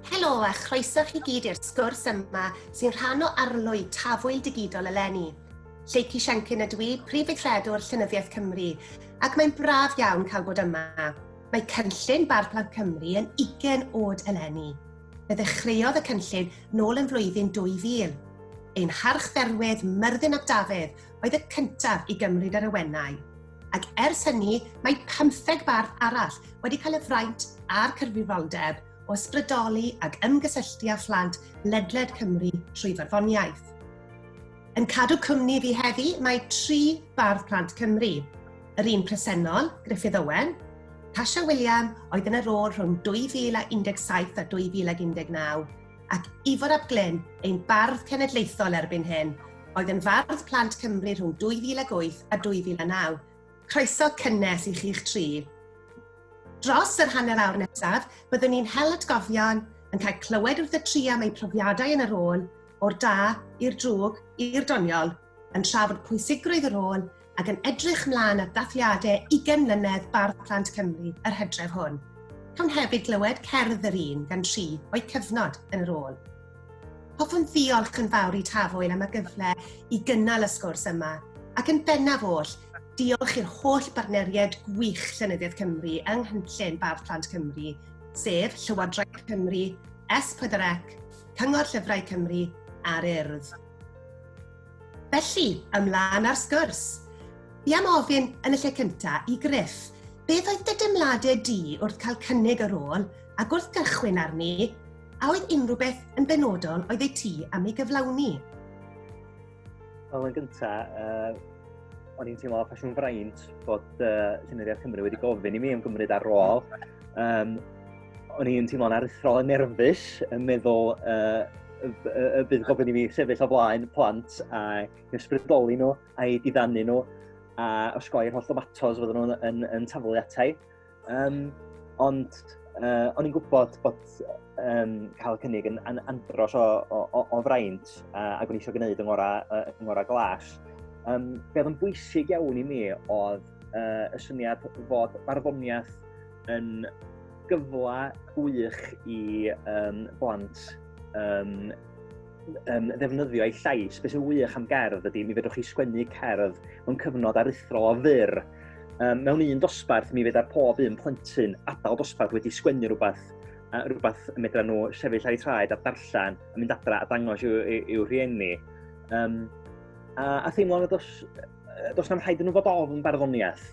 Helo a chroeso chi gyd i'r sgwrs yma sy'n rhan o arlwy tafwyl digidol eleni. Lleucu Siencyn ydw i, Prif Weithredwr Llenyddiaeth Cymru, ac mae'n braf iawn cael bod yma. Mae cynllun Barn Plant Cymru yn 20 oed eleni. Fe ddechreuodd y cynllun nôl yn flwyddyn 2000. Ein harchdderwydd, Myrddin ap Dafydd, oedd y cyntaf i gymryd yr awenau, ac ers hynny mae pymtheg bardd arall wedi cael y fraint a'r cyfrifoldeb o ysbrydoli ac ymgysylltu â phlant ledled Cymru trwy farddoniaeth. Yn cadw cwmni fi heddi mae tri bardd plant Cymru. Yr un presennol, Griffith Owen, Tasha William oedd yn y rôl rhwng 2017 a 2019, ac Ifor ap Glyn, ein bardd cenedlaethol erbyn hyn, oedd yn fardd plant Cymru rhwng 2008 a 2009. Croeso cynnes i chi'ch tri. Dros yr hanner awr nesaf, byddwn ni'n hel atgofion, yn cael clywed wrth y tri am eu profiadau yn y rôl, o'r da i'r drwg i'r doniol, yn trafod pwysigrwydd y rôl ac yn edrych mlaen at ddathliadau 20 mlynedd Bardd Plant Cymru yr hydref hwn. Cawn hefyd glywed cerdd yr un gan tri o'i cyfnod yn yr ôl. Hoffwn ddiolch yn fawr i Tafwyl am y gyfle i gynnal y sgwrs yma, ac yn bennaf oll, diolch i'r holl bartneriaid gwych Llenyddiaeth Cymru yng nghynllun Bardd Plant Cymru, sef Llywodraeth Cymru, S4C, Cyngor Llyfrau Cymru a'r Urdd. Felly, ymlaen ar sgwrs. Fi am ofyn yn y lle cyntaf i Griff, beth oedd dy deimladau di wrth cael cynnig y rôl ac wrth gychwyn arni, a oedd unrhyw beth yn benodol oedd ei ti am ei gyflawni? Wel, yn gyntaf, uh, o'n i'n teimlo ffasiwn fraint bod uh, Llenyddiaeth Cymru wedi gofyn i mi ymgymryd ar ôl. Um, o'n i'n teimlo'n aruthrol yn nerfus, yn meddwl uh, y, y, y bydd gofyn i mi sefyll o flaen plant a ysbrydoli nhw, a'i diddannu nhw, a osgoi'r holl ddomatos fydden nhw'n yn, yn taflu atai. Um, ond uh, o'n i'n gwybod bod um, cael y cynnig yn, yn andros o, o, o, o fraint uh, ac o'n eisiau gwneud yng ngorau, uh, yng ngorau glas. Um, beth yn bwysig iawn i mi oedd uh, y syniad fod barddoniaeth yn gyfle gwych i um, blant um, um, ddefnyddio ei llais. Beth sy'n wych am gerdd ydy, mi fedrwch chi sgwennu cerdd mewn cyfnod aruthrol o fyr. Um, mewn un dosbarth, mi fedra pob un plentyn adael dosbarth wedi sgwennu rhywbeth a rhywbeth y medra nhw sefyll ar eu traed a darllen a mynd adra a dangos i'w, i'w rhieni. Um, a, a theimlo nad os does na'm rhaid yn nhw fod ofn barddoniaeth.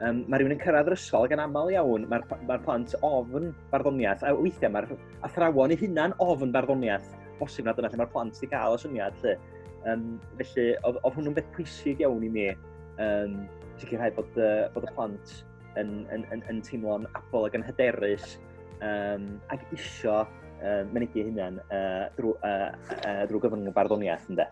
Um, mae rhywun yn cyrraedd yr ysgol gan aml iawn, mae'r ma plant ofn barddoniaeth, a weithiau mae'r athrawon ei hunan ofn barddoniaeth, bosib na dyna lle mae'r plant wedi cael y syniad. Lle. Um, felly, oedd, oedd hwnnw'n beth pwysig iawn i mi, um, sicrhau bod, uh, bod y plant yn, yn, yn, yn teimlo'n abol ac yn hyderus, um, ac isio uh, mynegi hynna'n uh, drwy, uh, uh, drwy gyfrwng y barddoniaeth, ynddo.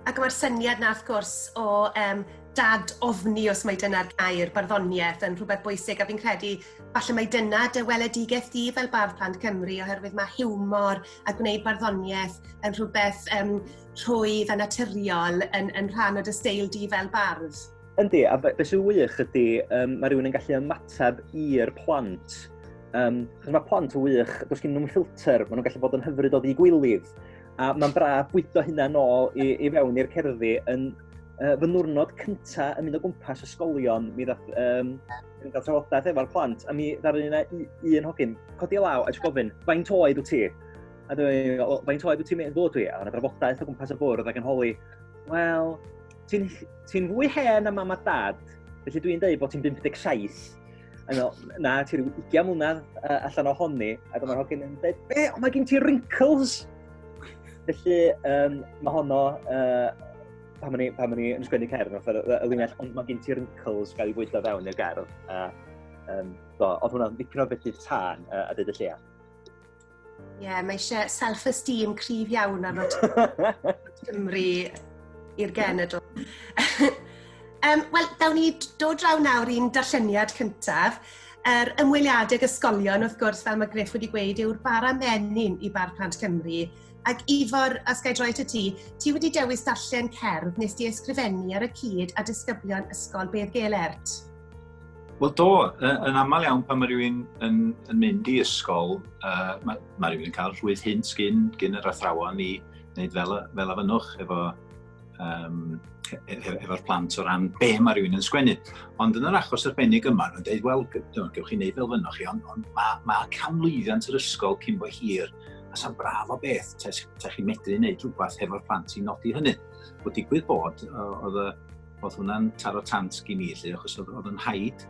Ac mae'r syniad na, wrth gwrs, o um, dad ofni, os mae dyna'r gair, barddoniaeth yn rhywbeth bwysig, a fi'n credu falle mae dyna dy weledigaeth di fel bardd plant Cymru, oherwydd mae hiwmor a gwneud barddoniaeth yn rhywbeth um, rhwydd a naturiol yn, yn rhan o dy seil di fel bardd. Yndi, a be, be sy'n wych ydy, um, mae rhywun yn gallu ymateb i'r plant. Um, chos mae plant yn wych, does gen nhw'n ffilter, maen nhw'n gallu bod yn hyfryd o ddigwylydd. A mae'n bra bwydo hynna nôl i, i fewn i'r cerddi. Yn, uh, fy nwrnod cynta yn mynd o gwmpas ysgolion, mi ddath um, yn cael trafodaeth efo'r plant, a mi ddaru yna un hogyn, codi law a jyst gofyn, faint oed wyt ti? A dwi'n, faint oed wyt ti'n meddwl dwi? A yna drafodaeth o gwmpas y bwrdd ac yn holi, wel, Ti'n ti fwy hen am mam a dad, felly dwi'n dweud bod ti'n 57. Ano, na, ti rhyw 20 mlynedd uh, allan o honni, ac mae'r hogyn yn dweud, be, ond mae gen ti wrinkles! Felly, um, mae honno, uh, pan ma'n i, pan ma'n i yn sgwennu cerdd, y linell, ond mae gen ti wrinkles gael ei fwydo fewn i'r gerdd. Uh, um, do, oedd hwnna'n dipyn o beth i'r tân uh, a dweud y lleia. Ie, yeah, mae eisiau self-esteem cryf iawn ar fod Cymru i'r genedl. um, Wel, dawn ni dod draw nawr i'n darlleniad cyntaf. Yr er ymweliadau ag ysgolion, wrth gwrs, fel mae Griff wedi gweud, yw'r bara menyn i Bar Plant Cymru. Ac Ifor, os gael droi at y ti, ti wedi dewis darllen cerdd nes di ysgrifennu ar y cyd a disgyblion Ysgol Bedd Gelert. Wel do, yn aml iawn pan mae rhywun yn, yn mynd i ysgol, uh, mae, mae rhywun yn cael rhwydd hyn gyn, gyn yr athrawon i wneud fel, fel afynwch efo um, efo'r plant o ran be mae rhywun yn sgwennu. Ond yn yr achos arbennig yma, nhw'n dweud, wel, gewch chi wneud fel fynwch chi, ond, ond mae, ma canlwyddiant yr ysgol cyn bo hir, a sa'n braf o beth, ta, ta chi'n medru wneud rhywbeth hefo'r plant i nodi hynny. Bod digwydd bod, oedd y oedd hwnna'n taro tant i mi, lle, achos oedd, oedd yn haid,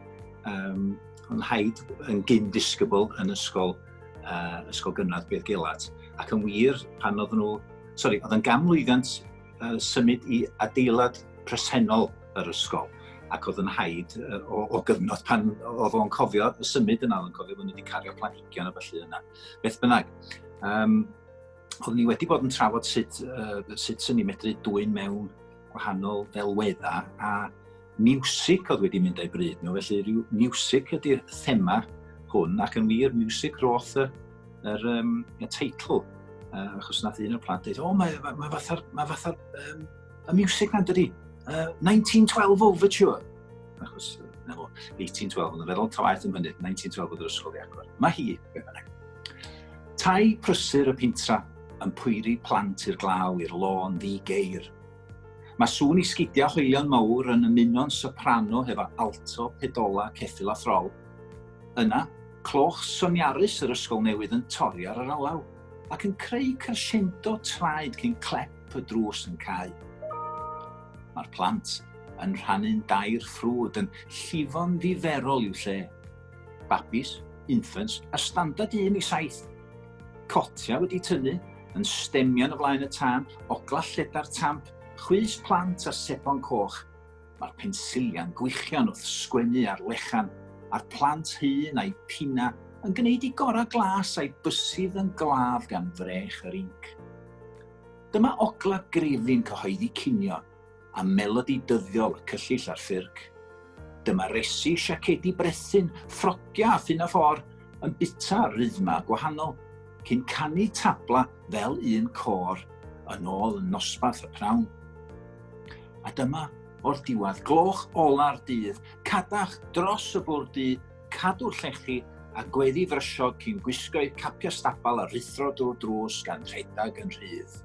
um, oedd yn haid yn gyn disgybl yn ysgol, uh, ysgol gynradd beth gelat. Ac yn wir, pan oedd nhw, sori, oedd yn gamlwyddiant uh, symud i adeilad presennol yr ysgol ac oedd yn haid uh, o, o gyfnod pan oedd o'n cofio y symud yna, oedd yn cofio bod nhw wedi cario planhigion a felly yna. Beth bynnag, um, oeddwn ni wedi bod yn trafod sut, uh, sut sy'n ni medru dwy'n mewn gwahanol ddelweddau a music oedd wedi mynd a'i bryd nhw, felly rhyw music ydy'r thema hwn ac yn wir music roth y, yr, um, y teitl uh, achos nath un o'r plant dweud, o mae, mae, mae fatha'r ma fatha, um, y music na'n dydi, uh, 1912 Overture achos na fo, 1812, yn y feddwl tawaeth yn mynydd, 1912 oedd yr ysgol i agor. Mae hi, beth bynnag. Tai prysur y pintra yn pwyri plant i'r glaw i'r lôn ddi geir. Mae sŵn i sgidiau hoelion mawr yn ymuno'n soprano hefo alto, pedola, ceffil a throl. Yna, cloch soniarus yr ysgol newydd yn torri ar yr alaw ac yn creu crescendo traed cyn clep y drws yn cael. Mae'r plant yn rhannu'n dair ffrwd, yn llifo'n ddiferol i'w lle. Babis, infants, a standard 1 i 7. Cotia wedi tynnu, yn stemio'n y flaen y tân, ogla lleda'r tamp, chwys plant a sebon coch. Mae'r pensiliau'n gwichian wrth sgwennu ar lechan, a'r plant hun a'i pina yn gwneud i gorau glas a'i bysydd yn glaf gan frech yr inc. Dyma ogla grefin cyhoeddi cinio, a melodi dyddiol y cyllyll a'r ffyrc. Dyma resi, siacedi brethyn, ffrogia a ffyn a ffôr yn bita rythma gwahanol, cyn canu tabla fel un cor yn ôl yn nosbarth y prawn. A dyma, o'r diwedd, gloch ola'r dydd, cadach dros y bwrdd du, cadw llechi a gweddi frysiog cyn gwisgo'u capia stabal a rithro drwy'r drws gan rhedeg yn rhydd.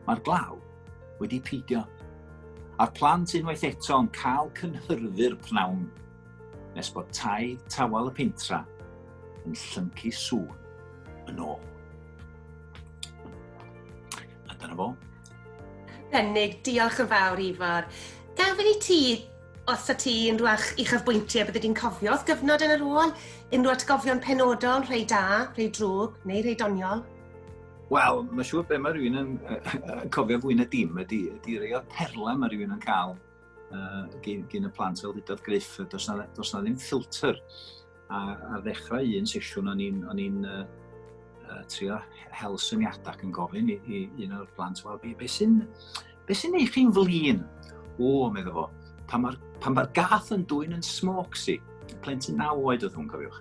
Mae'r glaw wedi peidio, a'r plant unwaith eto yn cael cynhyrfu'r pnawn nes bod tai tawel y pentra yn llyncu sŵn yn ôl. A dyna fo. Denig, diolch yn fawr Ifor. Gafyn i ti os ta ti yn rhywach i chyfbwyntiau bydde di'n cofio wrth gyfnod yn yr ôl, unrhyw atgofion penodol, rhai da, rhai drwg, neu rhai doniol? Wel, mae'n siŵr beth mae rhywun yn cofio fwy na dim ydy, ydy rei o'r perlau mae rhywun yn cael uh, gyn, gyn y plant fel ddudodd Griff, does na, does na ddim ffilter. A, a ddechrau un sesiwn o'n i'n on i'n uh, uh, trio hel syniadau ac yn gofyn i, i un o'r plant, wel, beth be sy'n Be sy'n ei chi'n flin? O, meddwl fo, pan mae'r pan mae'r gath yn dwy'n yn smoxy, plentyn naw oed oedd hwn, cofiwch.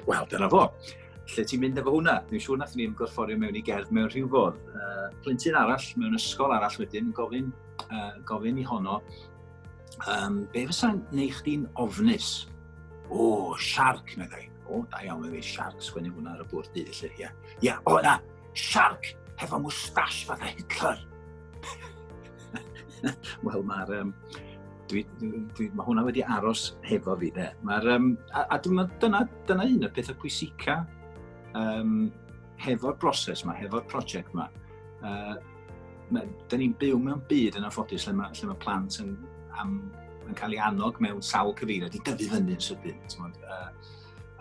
Wel, dyna fo. Lle ti'n mynd efo hwnna? Dwi'n siŵr nath ni ymgorfforio mewn i gerdd mewn rhyw fodd. Uh, plentyn arall, mewn ysgol arall wedyn, gofyn, uh, gofyn i honno, um, be fysa'n neu chdi'n ofnus? O, oh, siarc, meddai. O, oh, da iawn, meddai, siarc, sgwennu hwnna ar y bwrdd dydd, lle, ia. Ia, o, na, Siarc hefo mwstash fatha Hitler. Wel, mae'r... Um, dwi, dwi, dwi, mae hwnna wedi aros hefo fi, de. Mae'r... Um, a, a dyna, dyna, dyna un y pethau pwysica um, hefo'r broses yma, hefo'r prosiect yma. Uh, Dyna ni'n byw mewn byd yn anffodus lle mae, lle mae plant yn, am, yn cael ei annog mewn sawl cyfeiriad i dyfu fyny yn sydyn. Uh,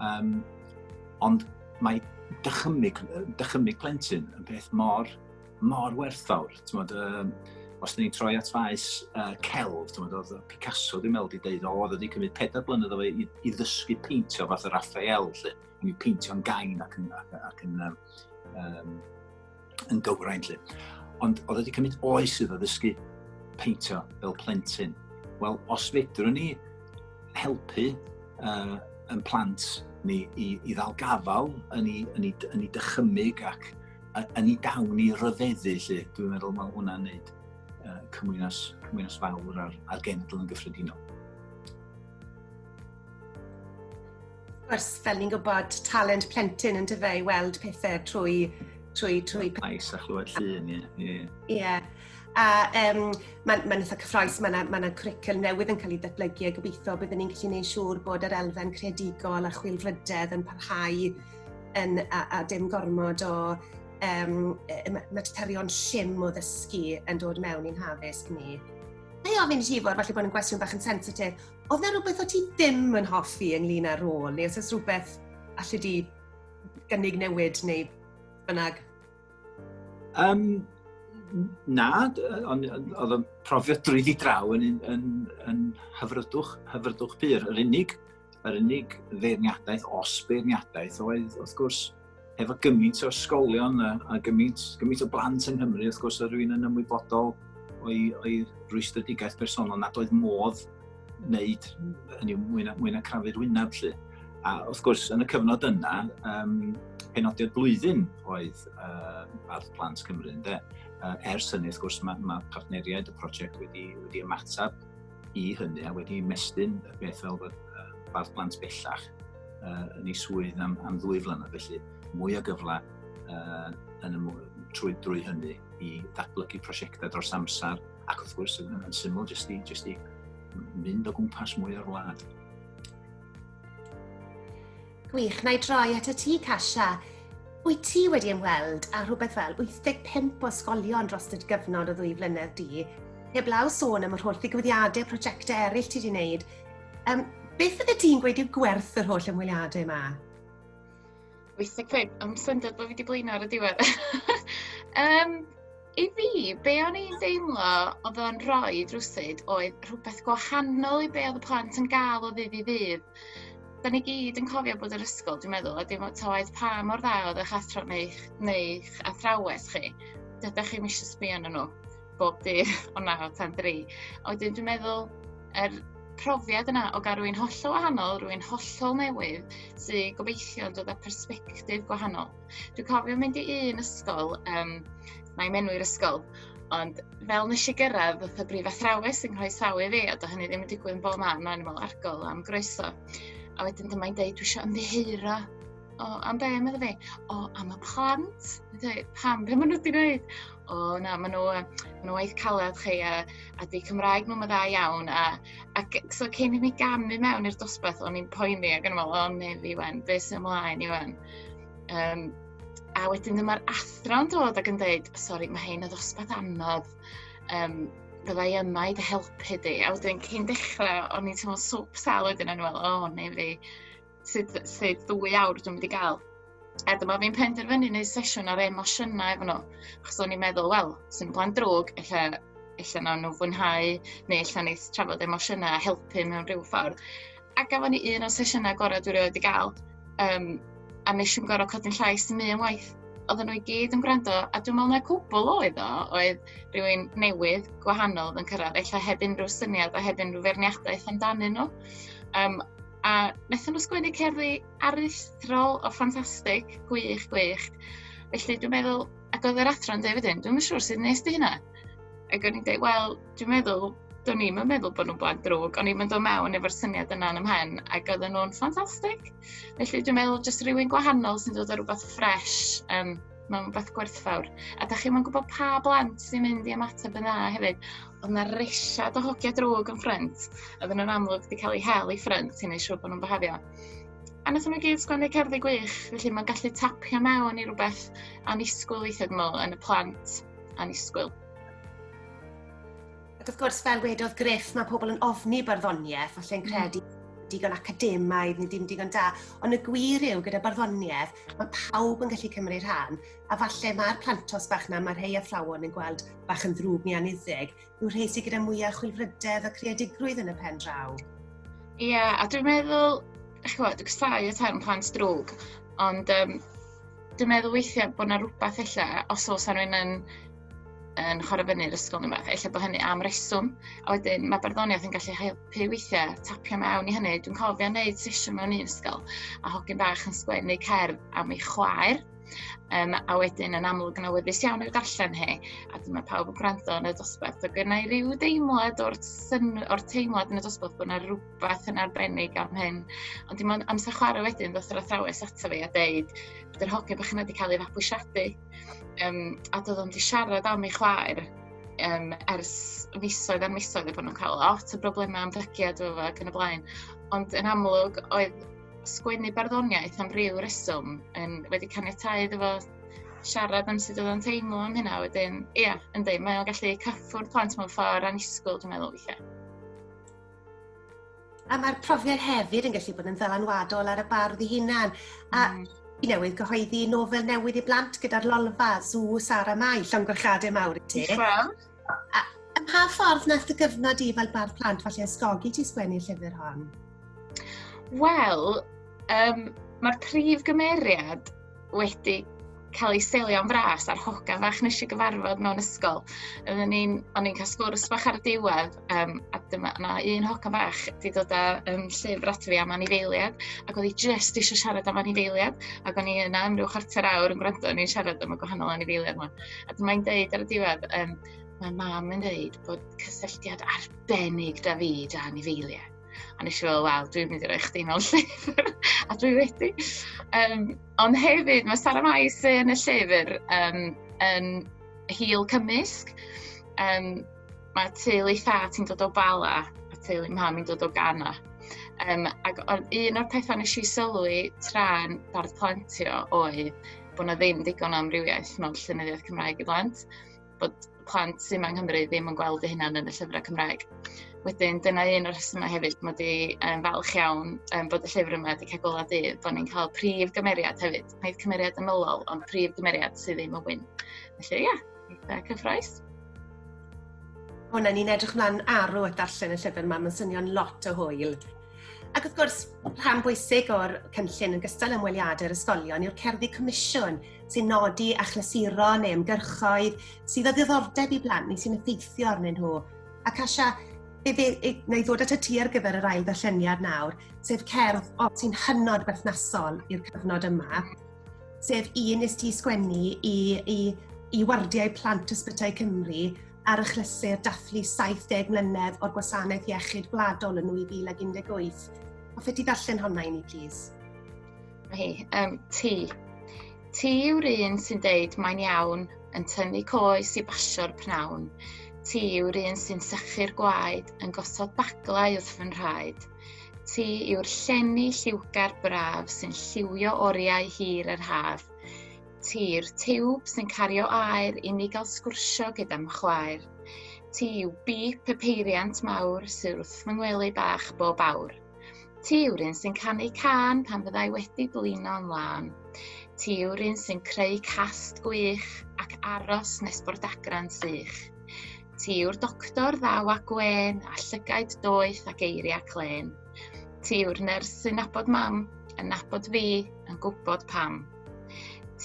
Um, ond mae dychymyg, dychymyg plentyn yn peth mor, mor werthfawr. Tymod, um, os da ni'n troi at faes uh, celf, tymod, oedd Picasso ddim meddwl wedi deud, o, oedd wedi cymryd pedair blynedd o fe i, i ddysgu peintio fath o Raphael, lle, yn i'w peintio'n gain ac yn, ac, ac yn um, um, yn gywrain lle. Ond oedd wedi cymryd oes iddo ddysgu peintio fel plentyn. Wel, os fedrwn ni helpu uh, yn plant ni i, i ddal gafal yn ei, yn ei, yn ei dychymyg ac yn ei dawn i ryfeddu lle, dwi'n meddwl mae hwnna'n neud uh, cymwynas, cymwynas fawr ar, ar genedl yn gyffredinol. Wrth fel ni'n gwybod, talent plentyn yn dyfe i weld pethau trwy... trwy, trwy... Ais a chlywed llun, ie. Ie. Yeah. A um, mae'n ma eitha cyffroes, mae yna ma cwricul newydd yn cael ei ddatblygu a gobeithio byddwn ni'n gallu gwneud siŵr bod yr elfen credigol a chwilfrydedd yn parhau yn, a, a dim gormod o um, materion llym o ddysgu yn dod mewn i'n haddysg ni. Mae ofyn i ti fod, falle bod yn gwestiwn bach yn sensitif, Oedd yna rhywbeth o ti ddim yn hoffi ynglyn â'r rôl, neu os oes rhywbeth allu di gynnig newid neu bynnag? Um, na, ond oedd y profiad drwyddi draw yn, yn, yn, yn hyfrydwch, hyfrydwch pur. Yr unig, yr unig feirniadaeth, os beirniadaeth, oedd wrth gwrs efo gymaint o ysgolion a, a gymaint, gymaint o blant yng Nghymru, wrth gwrs, oedd rwy'n yn ymwybodol o'i, o'i rwystredigaeth bersonol nad oedd modd wneud hynny mwy na, mwy na crafu'r wyneb lle. A wrth gwrs, yn y cyfnod yna, um, penodiad blwyddyn oedd uh, Bardd Plant Cymru, ynddo. Uh, ers hynny, wrth gwrs, mae, mae partneriaid y prosiect wedi, wedi ymateb i hynny a wedi mestyn y peth fel bod uh, bardd plant bellach uh, yn ei swydd am, am ddwy flynedd, felly mwy o gyfle uh, yn y, trwy drwy hynny i ddatblygu prosiectau dros amser ac wrth gwrs yn, yn syml jyst i, jyst i mynd o gwmpas mwy o'r wlad. Gwych, na i droi at y ti, Kasia. Wyt ti wedi ymweld â rhywbeth fel 85 o ysgolion dros y gyfnod o ddwy flynedd di? Heblaw sôn am yr holl ddigwyddiadau, prosiectau eraill ti wedi wneud. Um, beth ydy ti'n gweud yw gwerth yr holl ymweliadau yma? 85, am syndod bod fi wedi blino ar y diwedd. um, I fi, be o'n i'n deimlo oedd o'n rhoi drwsyd oedd rhywbeth gwahanol i be oedd y plant yn gael o ddydd i ddydd. 'dan ni gyd yn cofio bod yr ysgol dwi'n meddwl a dim ots oed pa mor dda oedd eich athro neu'ch neu'ch athrawes chi dydych chi'm isio sbio arnyn nhw bob dydd o naw tan dri. A wedyn dwi'n meddwl yr profiad yna o gael rwy'n hollol wahanol, rwy'n hollol newydd, sy'n gobeithio yn dod â persbectif gwahanol. Dwi'n cofio mynd i un ysgol, um, na i menwi'r ysgol, ond fel nes i gyrraedd, oedd y brif athrawes yn rhoi sawl i fi, a do hynny ddim yn digwydd yn bob man, mae'n ymwneud argol am groeso. A wedyn dyma i'n deud, dwi eisiau ymddeheuro o, am be, meddwl fi? O, am y plant. Dweud, pam, be maen nhw wedi gwneud? O, na, maen nhw, maen nhw waith caled chi a, a di Cymraeg nhw'n dda iawn. A, a so cyn i mi gamu mewn i'r dosbarth, o'n i'n poeni ac yn meddwl, o, ne fi wen, beth sy'n ymlaen i wen? Um, a wedyn dyma'r athro'n dod ac yn dweud, sori, mae hyn y ddosbarth anodd, um, byddai yma i dy helpu di. A wedyn cyn dechrau, o'n i'n teimlo swp sal wedyn yn fel, o, oh, neu fi, sydd, sydd ddwy awr dwi'n mynd i gael. A dyma fi'n penderfynu neu sesiwn ar emosiynau efo nhw. Achos o'n i'n meddwl, wel, sy'n blaen drwg, ella, ella na nhw fwynhau, neu ella neith trafod emosiynau a helpu mewn rhyw ffordd. A gafon ni un o'r sesiynau gorau dwi rioed wedi gael. Um, a nes i'n gorau codi'n llais yn un waith. Oedden nhw i gyd yn gwrando, a dwi'n meddwl na cwbl oedd o, oedd rhywun newydd, gwahanol yn cyrraedd, eich heb unrhyw syniad a heb unrhyw ferniadaeth amdanyn nhw. Um, a wnaethon nhw sgwennu cerddi aruthrol o ffantastig, gwych, gwych. Felly dwi'n meddwl, ac oedd yr athro'n dweud wedyn, dwi'n siŵr sydd nes di hynna. Ac o'n i'n dweud, wel, dwi'n meddwl, do'n i'm yn meddwl bod nhw'n blant drwg, o'n i'm yn dod mewn efo'r syniad yna yn ymhen, ac oedden nhw'n ffantastig. Felly dwi'n meddwl, jyst rhywun gwahanol sy'n dod o rhywbeth ffres, um, mae'n rhywbeth gwerthfawr. A da chi'n gwybod pa blant sy'n mynd i ymateb yn dda hefyd, ond na resiad o hogia drwg yn ffrind, oedden nhw'n amlwg wedi cael ei hel i ffrind, ti'n ei siŵr bod nhw'n byhafio. A nath nhw gyd sgwennu cerddi gwych, felly mae'n gallu tapio mewn i rhywbeth anisgwyl weithiau dwi'n meddwl yn y plant. annisgwyl. Ac wrth gwrs, fel wedodd Griff, mae pobl yn ofni barddoniaeth, falle'n mm. credu digon academaidd neu ddim digon da, ond y gwir yw gyda barddoniaeth, mae pawb yn gallu cymryd rhan, a falle mae'r plantos bach na, mae rhai athrawon yn gweld bach yn ddrwg neu aniddig, yw'r rhai sydd gyda mwyaf chwilfrydedd a creadigrwydd yn y pen draw. Ie, yeah, a dwi'n meddwl, eich gwybod, dwi'n cysau y term plant drwg, ond um, dwi'n meddwl weithiau bod yna rhywbeth illa, os oes rhywun yn, yn chwarae fyny'r ysgol neu beth, illa bod hynny am reswm. A wedyn mae barddoniaeth yn gallu helpu weithiau tapio mewn i hynny. Dwi'n cofio wneud sesiwn mewn un ysgol a hogyn bach yn sgwennu cerdd am ei chwaer. Um, a wedyn yn amlwg yn awyddus iawn i'w darllen hi, a dyma pawb yn gwrando yn y dosbarth. Ac yna i ryw deimlad o'r, syn, or teimlad yn y dosbarth bod yna rhywbeth yn arbennig am hyn. Ond dim ond amser chwarae wedyn, ddoth yr athrawes ato fi a deud, bod yr hogyn bach yna wedi cael ei fabwysiadu. Um, a doedd o'n di siarad am ei chwaer um, ers misoedd ar misoedd y bod nhw'n cael lot o broblemau am ddygiad o ac yn y blaen. Ond yn amlwg, oedd sgwennu barddoniaeth am ryw reswm yn wedi caniatau iddo fo siarad am sut oedd o'n teimlo am hynna. Wedyn, ia, yeah, yndi, mae o'n gallu cyffwrdd plant mewn ffordd anisgwyl, dwi'n meddwl, weithiau. A mae'r profiad hefyd yn gallu bod yn ddylanwadol ar y bardd i hunan. A mm. i newydd gyhoeddi nofel newydd i blant gyda'r Lolfa, Zw, Sara Mai, llongyfarchiadau mawr i ti. Diolch A, a pa ffordd nath y gyfnod i fel bardd plant falle ysgogi ti sgwennu llyfr hon? Wel, um, mae'r prif gymeriad wedi cael ei selio'n fras a'r hoga fach nes i gyfarfod mewn ysgol. O'n i'n cael sgwrs bach ar y diwedd, um, a dyma na un hoga fach wedi dod â um, llyfr at fi am anifeiliad, ac oedd hi just eisiau siarad am anifeiliad, ac o'n i yna am rhyw chwarter awr yn gwrando, o'n i'n siarad am y gwahanol anifeiliad yma. A dyma i'n deud ar y diwedd, um, mae mam yn dweud bod cysylltiad arbennig da fi da ni feiliau. A nes i fel, wel, dwi'n mynd i roi chdi mewn llyfr, a dwi wedi. Um, ond hefyd, mae Sara Mai sy'n yn y llyfr um, yn hil cymysg. Um, mae teulu tha ti'n dod o Bala, a teulu mam i'n dod o Gana. Um, ac un o'r pethau nes i sylwi tra'n bardd plantio oedd bod na ddim digon o amrywiaeth mewn llenyddiaeth Cymraeg i blant, bod plant sy'n yng Nghymru ddim yn gweld eu hunan yn y llyfrau Cymraeg. Wedyn, dyna un o'r rhesymau hefyd, mae wedi um, falch iawn um, bod y llyfr yma wedi cael gola dydd, bod ni'n cael prif gymeriad hefyd. Nid cymeriad ymylol, ond prif gymeriad sydd ddim yn wyn. Felly, ia, yeah, cyffroes. Hwna, ni'n edrych mlaen arw at darllen y llyfr yma, mae'n swnio'n lot o hwyl. Ac wrth gwrs, rhan bwysig o'r cynllun yn gystal ymweliadau'r ysgolion yw'r cerddi comisiwn sy'n nodi achlysuro neu ymgyrchoedd sydd o ddiddordeb i blant neu sy'n effeithio arnyn nhw. Ac Asia, fe fe wna i ddod at y ti ar gyfer yr ail ddarlleniad nawr, sef cerdd o, sy'n hynod berthnasol i'r cyfnod yma, sef un nes ti sgwennu i, i, i wardiau plant ysbytai Cymru ar achlysur dathlu 70 mlynedd o'r gwasanaeth iechyd gwladol yn 2018. Hoffet ti ddarllen honna i ni, plis? Hi, um, ti. Ti yw'r un sy'n deud mae'n iawn, yn tynnu coes i basio'r pnawn. Ti yw'r un sy'n sychu'r gwaed, yn gosod baglau wrth fy nhraed. Ti yw'r llenni lliwgar braf sy'n lliwio oriau hir yr haf. Ti'r tiwb sy'n cario air i mi gael sgwrsio gyda'm chwaer. Ti yw bip y peiriant mawr sy'n wrth fy ngwely bach bob awr. Ti yw'r un sy'n canu can pan fyddai wedi blino'n lân. Ti yw'r un sy'n creu cast gwych ac aros nes bod agran sych. Ti yw'r doctor ddaw a gwen a llygaid doeth a geiriau clen. Ti yw'r nyrs sy'n nabod mam, yn nabod fi, yn gwybod pam.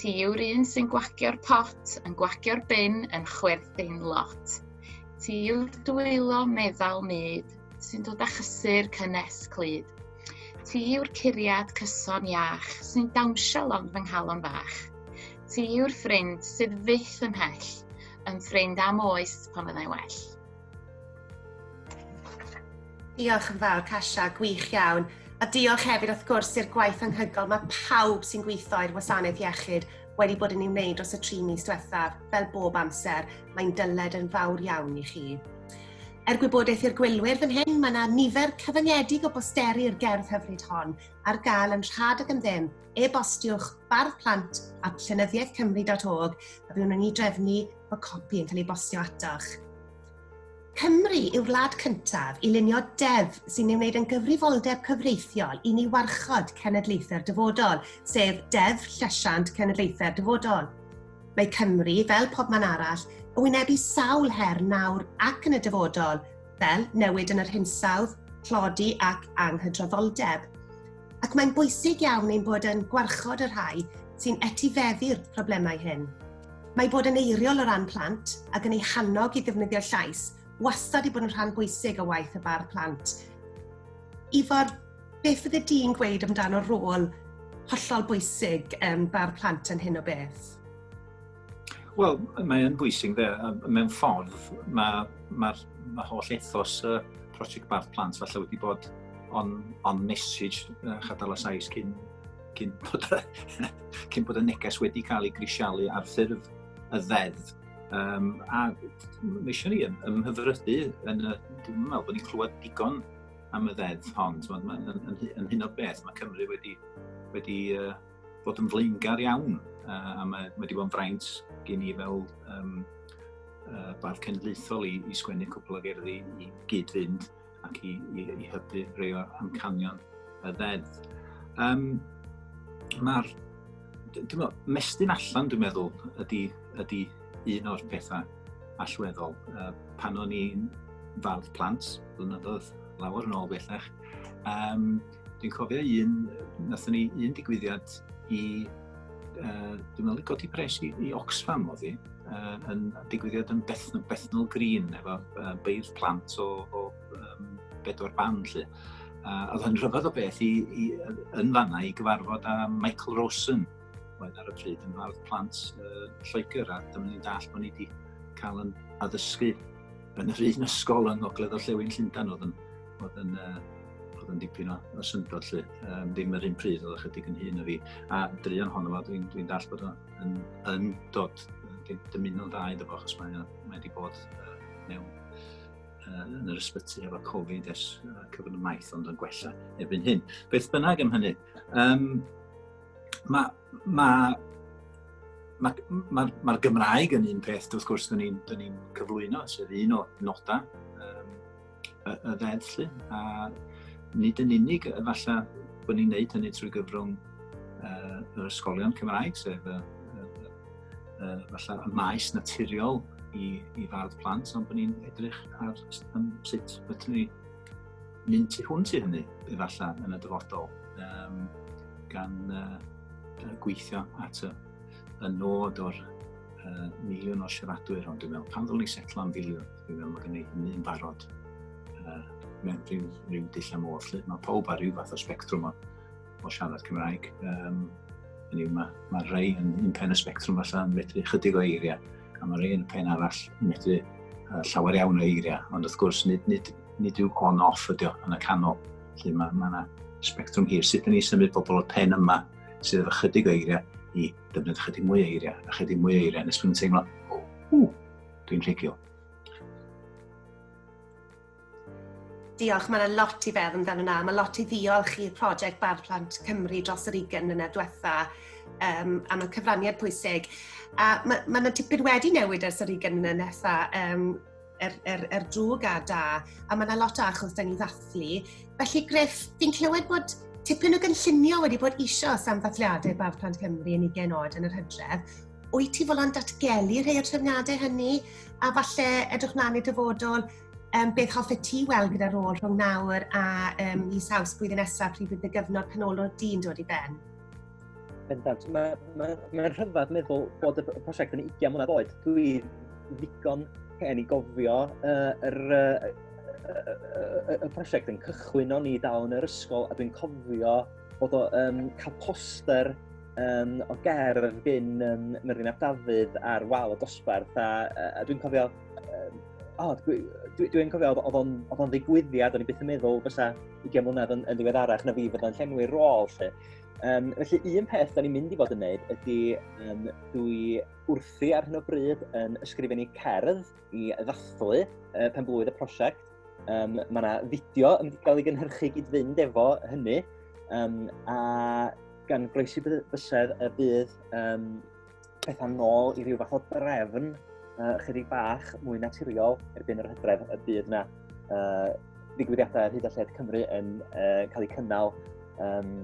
Ti yw'r un sy'n gwagio'r pot, yn gwagio'r bin, yn chwerthin lot. Ti yw'r dwylo meddal myd, sy'n dod â chysur cynnes clyd. Ti yw'r curiad cyson iach sy'n dawnsio lond fy nghalon fach. Ti yw'r ffrind sydd fyth yn hell, yn ffrind am oes pan fyddai well. Diolch yn fawr, Kasia, gwych iawn. A diolch hefyd wrth gwrs i'r gwaith anghygol mae pawb sy'n gweithio i'r wasanaeth iechyd wedi bod yn ei wneud dros y tri mis diwethaf, fel bob amser, mae'n dyled yn fawr iawn i chi. Er gwybodaeth i'r gwylwyr fan hyn, mae yna nifer cyfyngedig o bosteri i'r gerdd hyfryd hon ar gael yn rhad ag yn ddim. E-bostiwch bardd plant at llenyddiaethcymru.org a byddwn yn ei drefnu Mae copi yn cael ei bostio atoch. Cymru yw'r wlad cyntaf i lunio deddf sy'n ei wneud yn gyfrifoldeb cyfreithiol i ni warchod cenedlaethau'r dyfodol, sef Deddf Llesiant Cenedlaethau'r Dyfodol. Mae Cymru, fel pob man arall, yn wynebu sawl her nawr ac yn y dyfodol, fel newid yn yr hinsawdd, tlodi ac anghydraddoldeb. Ac mae'n bwysig iawn ein bod yn gwarchod y rhai sy'n etifeddu'r problemau hyn. Mae bod yn eiriol o ran plant ac yn ei hannog i ddefnyddio'r llais wastad i bod yn rhan bwysig o waith y bar plant. Ifor, beth fydde di'n gweud amdano'r rôl hollol bwysig um, bar plant yn hyn o beth? Wel, mae'n bwysig dde, mewn ffordd mae'r ma, ma holl ethos y uh, prosiect Barth Plant falle wedi bod on, on message uh, Chadala Sais cyn cyn bod, cyn bod y neges wedi cael ei grisialu ar ffurf y ddeddf. Um, a mae eisiau ni ymhyfrydu yn y... Dwi'n meddwl bod ni'n clywed digon am y ddeddf hon. Yn, yn, yn, yn hyn o beth, mae Cymru wedi, wedi uh, bod yn flaengar iawn uh, a mae, mae wedi bod yn fraint gen i fel um, uh, bardd cenedlaethol i, i sgwennu cwpl o gerddi i gyd-fynd ac i, i, i hybu rhai o'r amcanion y ddeddf. Um, Mae'r mestyn allan, dwi'n meddwl, ydy, ydy un o'r pethau allweddol. Uh, pan o'n i'n fawr plant, blynyddoedd lawer yn ôl bellach, um, Dwi'n cofio un, nathon ni un digwyddiad i, uh, dwi'n meddwl, godi pres i, i Oxfam o ddi, uh, yn digwyddiad yn Bethnal, Bethnal Green, efo uh, beirdd plant o, o um, bedwar ban, lle. A oedd hyn rhyfedd o beth i, i, yn fanna i gyfarfod â Michael Rosen, oedd ar y pryd yn fardd plant uh, Lloegr, a dyma ni'n dall bod ni wedi cael yn addysgu yn yr un ysgol yng Ngogledd Llewyn Llundain oedd yn Oedd yn, uh, oedd yn dipyn o, o syndod lle. Um, ddim yr un pryd, oedd ychydig yn hun o fi. A drian honno fo, dwi'n dwi dall bod yn, yn dod dymuno'n dda iddo fo, achos mae, mae wedi bod uh, mewn uh, yn yr ysbyty efo Covid ers uh, cyfnod y maith, ond yn gwella erbyn hyn. Beth bynnag am hynny, um, mae ma, ma, ma, ma Gymraeg yn un peth, wrth gwrs, dyn ni'n ni cyflwyno, sef un o nodau y, y ddeddf lle, a nid yn unig efallai bod ni'n neud hynny trwy gyfrwng uh, yr ysgolion Cymraeg, sef y, y, y, y, y maes naturiol i, i fardd plant, ond bod ni'n edrych ar um, sut bydden ni mynd tu hwnt i hynny, efallai, yn y dyfodol, um, gan uh, gweithio at y, y nod o'r uh, miliwn o siaradwyr, ond dwi'n meddwl, pan ddylwn ni setlo am filiwn, Dwi'n meddwl mae gen i hynny yn barod uh, mewn rhyw, rhyw dull am oll. Mae pawb ar rhyw fath o spectrwm o, o siarad Cymraeg. Um, Hynny yw, mae, mae rhai yn un pen y spectrwm allan yn medru chydig o eiriau, a mae rhai yn y pen arall yn medru uh, llawer iawn o eiriau, ond wrth gwrs nid, nid, nid yw on-off ydi o yn y canol. Felly mae yna ma spectrwm hir. Sut ydyn ni symud bobl o'r pen yma sydd efo chydig o eiriau i ddefnyddio chydig mwy o eiriau, a chydig mwy o eiriau, nes bod yn teimlo, o, Dwi'n clicio. Diolch, mae yna lot i feddwl amdano yna. Mae lot i ddiolch i'r prosiect Bardd Plant Cymru dros yr 20 mlynedd diwetha um, am y cyfraniad pwysig. A mae ma yna tipyn wedi newid ers yr 20 mlynedd nesa um, er, er, er drwg a da, a mae yna lot o achos da ni ddathlu. Felly, Griff, fi'n clywed bod tipyn o gynllunio wedi bod eisiau am ddathliadau Bardd Plant Cymru yn 20 oed yn yr hydref. wyt ti fod yn datgelu rhai o'r trefniadau hynny, a falle edrych mlaen i dyfodol, um, beth hoffet ti weld gyda'r rôl rhwng nawr a um, i saws blwyddyn nesaf pryd bydd y gyfnod canolor dyn dod i ben? Bendant, mae'n ma, ma rhyfedd meddwl bod y prosiect yn 20 mlynedd oed. Dwi ddigon hen i gofio uh, yr, uh, y prosiect yn cychwyn o'n i dal yn yr ysgol a dwi'n cofio bod o yn cael poster um, o gerdd gyn um, Myrddin Ap Dafydd ar wal y dosbarth, a, a dwi'n cofio, um, oh, dwi'n dwi, dwi cofio, oedd o'n oedd o'n ddigwyddiad, o'n i byth yn meddwl fysa 20 mlynedd yn, yn ddiweddarach na fi fod yn llenwi rôl, lle. Um, felly, un peth da ni'n mynd i fod yn neud ydy, um, dwi wrthi ar hyn o bryd yn ysgrifennu cerdd, i ddathlu uh, pen blwydd y prosiect. Um, mae yna fideo yn cael ei gynhyrchu gyd fynd efo hynny, um, a gan groesi bysedd y bydd um, pethau nôl i ryw fath o drefn uh, chydig bach mwy naturiol erbyn yr hydref y bydd yna uh, ddigwyddiadau ar hyd a lled Cymru yn uh, cael eu cynnal um,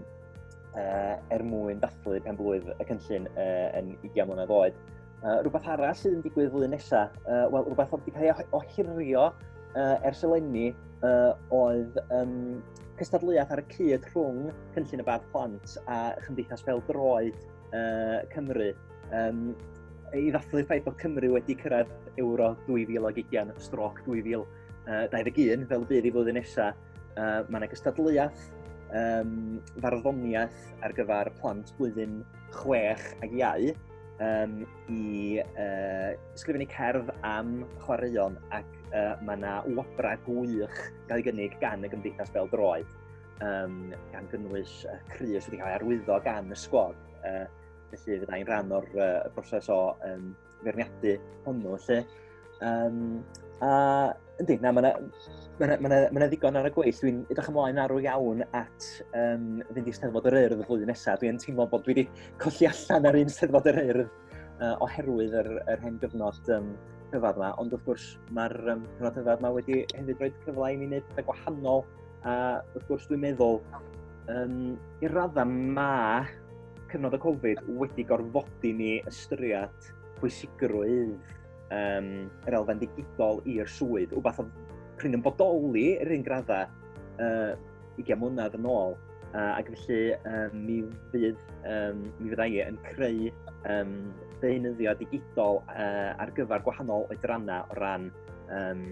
uh, er mwyn dathlu pen blwydd y cynllun uh, yn 20 mlynedd oed. Uh, rhywbeth arall sydd yn digwydd flwyddyn nesaf, uh, wel, rhywbeth oedd wedi cael ei ohirio uh, ers eleni uh, oedd um, cystadleuaeth ar y cyd rhwng Cynllun y Bad Plant a Chymdeithas Fel Droed uh, Cymru. Um, I ddathlu ffaith bod Cymru wedi cyrraedd Euro 2020, stroc 2021, fel bydd i flwyddyn nesaf, Uh, mae yna gystadleuaeth, um, farddoniaeth ar gyfer plant blwyddyn 6 ag iau um, i uh, sgrifennu cerdd am chwaraeon ac uh, mae yna wobrau gwych gael ei gynnig gan y Gymdeithas Bel Droed um, gan gynnwys uh, Cris wedi cael ei arwyddo gan y sgwad. Uh, felly fydda i'n rhan o'r uh, broses o um, feirniadu hwnnw, lle. Um, a, yndi, na, mae yna ma ma ma ma ddigon ar y gweill. Dwi'n edrych ymlaen arw iawn at um, fynd i Steddfod yr Urdd y flwyddyn nesaf. Dwi'n teimlo bod dwi wedi colli allan ar un Steddfod yr Urdd uh, oherwydd yr, yr hen gyfnod um, rhyfedd yma. Ond wrth gwrs, mae'r um, cyfnod rhyfedd yma wedi hefyd rhoi cyfle i mi wneud pethau gwahanol. A wrth gwrs, dwi'n meddwl, um, i'r raddau mae cyfnod y Covid wedi gorfodi ni ystyried pwysigrwydd um, yr elfen digidol i'r swydd, wbeth oedd prin yn bodoli yr un graddau uh, 20 mlynedd yn ôl. Uh, ac felly um, mi, fydd, um, mi fyddai e yn creu um, deunyddio digidol uh, ar gyfer gwahanol oedrannau o ran, um,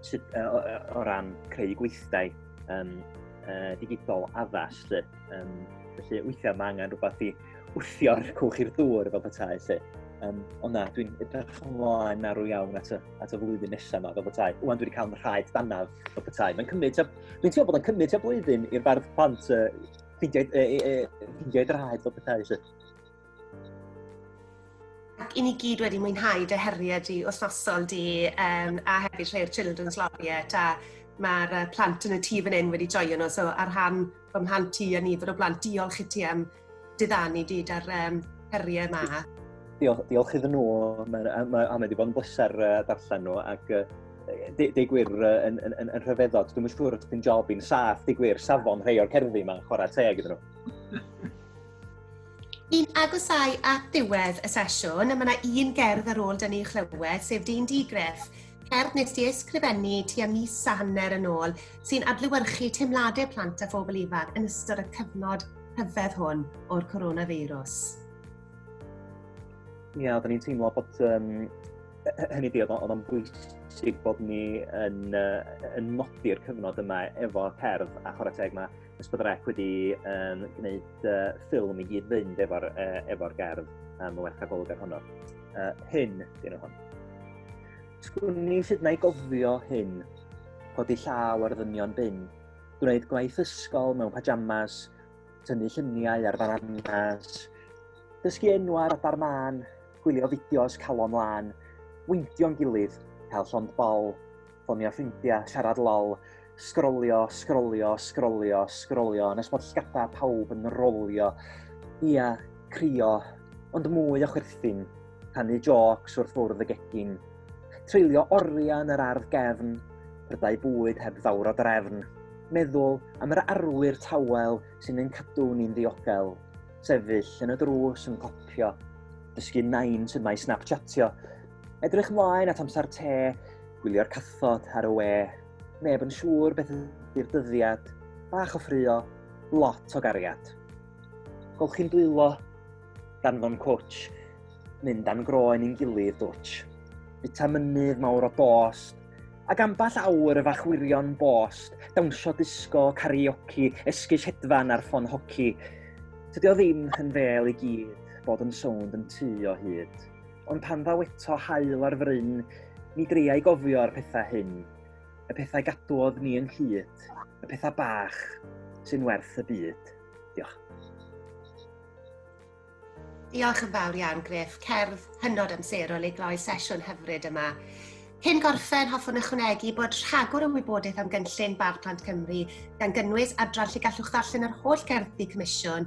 sut, uh, o, o ran creu gweithdai um, uh, digidol addas. Lle. Um, felly weithiau mae angen rhywbeth i wthio'r cwch i'r dŵr fel petai. Felly. Um, ond na, dwi'n edrych ymlaen arw iawn at y, at y flwyddyn nesaf yma fel petai. Wwan, dwi wedi cael rhaid danaf fel petai. Mae'n cymryd, dwi'n teimlo bod yn cymryd tua blwyddyn i'r bardd plant uh, ffeindio, uh, uh, ffeindio i fel petai. Felly. ac i ni gyd wedi mwynhau dy heriau di wythnosol di um, a hefyd rhai'r Children's Laureate a mae'r uh, plant yn y tîf fan hyn wedi joio nhw. So ar rhan fy mhlant ti a nifer o blant, diolch i ti am diddanu di da'r um, heriau yma. Diolch, diolch iddyn nhw, mae, mae, mae wedi bod yn bleser uh, darllen nhw ac uh, deu gwir yn, yn, yn, yn rhyfeddod. Dwi'n siŵr os dwi'n job i'n saff, deu gwir, safon rhai o'r cerddi yma, chwarae teg iddyn nhw. Yn agosau at ddiwedd y sesiwn, mae yna un gerdd ar ôl dyn ni chlywed, sef Dyn Digref, cerdd nes di ysgrifennu tua mis a hanner yn ôl, sy'n adlywyrchu teimladau plant a phobl ifanc yn ystod y cyfnod hyfedd hwn o'r coronavirus. Ie, yeah, oedden ni'n teimlo bod um, hynny di, oedd o'n bwysig bod ni yn, uh, yn nodi'r cyfnod yma efo cerdd a chwarae teg mae Nes bod yr ep wedi um, gwneud uh, ffilm i gyd fynd efo'r e, efo gerdd am y werth agolgar honno. Uh, hyn, dyn nhw hwn. Sgwn ni hyd na i gofio hyn, codi llaw ar ddynion bin, gwneud gwaith ysgol mewn pajamas, tynnu lluniau ar fananas, dysgu enw ar adar man, gwylio fideos calon lan, weintio'n gilydd, cael llond bol, ffonio ffrindiau, siarad lol, sgrolio, sgrolio, sgrolio, sgrolio, nes bod llgadau pawb yn rolio. Ia, crio, ond mwy o chwerthin, rhannu jocs wrth fwrdd y gegin. Treulio oriau yn yr ardd gefn, prydau bwyd heb fawr o drefn. Meddwl am yr arwyr tawel sy'n ein cadw ni'n ddiogel. Sefyll yn y drws yn copio, dysgu nain sydd mae snapchatio, Edrych mlaen at amser te, gwylio'r cathod ar y we, neb yn siŵr beth ydy'r dyddiad, bach o ffrio, lot o gariad. Golchi'n dwylo, danfon coach, mynd a'n groen i'n gilydd dwtch. Bita mynydd mawr o dost, ac amball awr y fach wirion bost, dawnsio disgo, karaoke, esgus hedfan ar ffon hoci. Tydio ddim yn fel i gyd bod yn sownd yn tu o hyd. ond pan ddaw eto hael ar fryn, ni dreiau gofio'r pethau hyn, y pethau gadwodd ni yn hyd, y pethau bach sy'n werth y byd. Diolch. Diolch yn fawr iawn, Griff. Cerdd hynod amserol i gloi sesiwn hyfryd yma. Cyn gorffen, hoffwn ychwanegu bod rhagor o wybodaeth am gynllun Bardd Plant Cymru, gan gynnwys adran lle gallwch ddarllen yr holl gerddi comisiwn,